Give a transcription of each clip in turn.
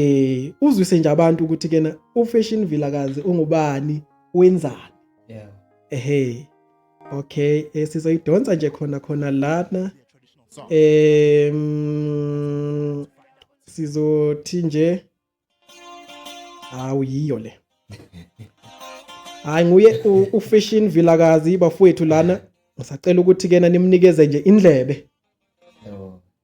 eh uzwise nje abantu ukuthi kena uFashion Vilakazi ungubani wenzani yeah ehe okay eh, sizoyidonsa nje khona khona lana eh sizothi nje hawu yiyo le hayi nguye uFashion Vilakazi bafowethu lana ngisacela ukuthi kena nimnikeze nje indlebe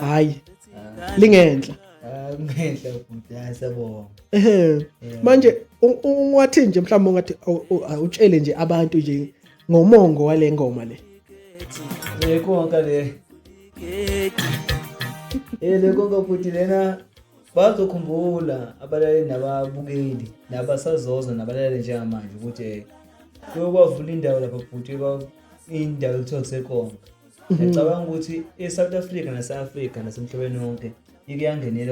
hayi lingenhla ngenhla bhuti ayasebonga ehe manje ungathi nje mhlawumbe ungathi utshele nje abantu nje ngomongo wale ngoma le le konka le eh le konka bhuti lena bazokhumbula abalaleli nababukeli nabasazoza nabalaleli njengamanje ukuthi eh, kuyokwavula indawo lapha bhuti indawo ekuthiwa kusekonka ngicabanga ukuthi i-south africa nase-afrika nasemhlabeni wonke ike yangenela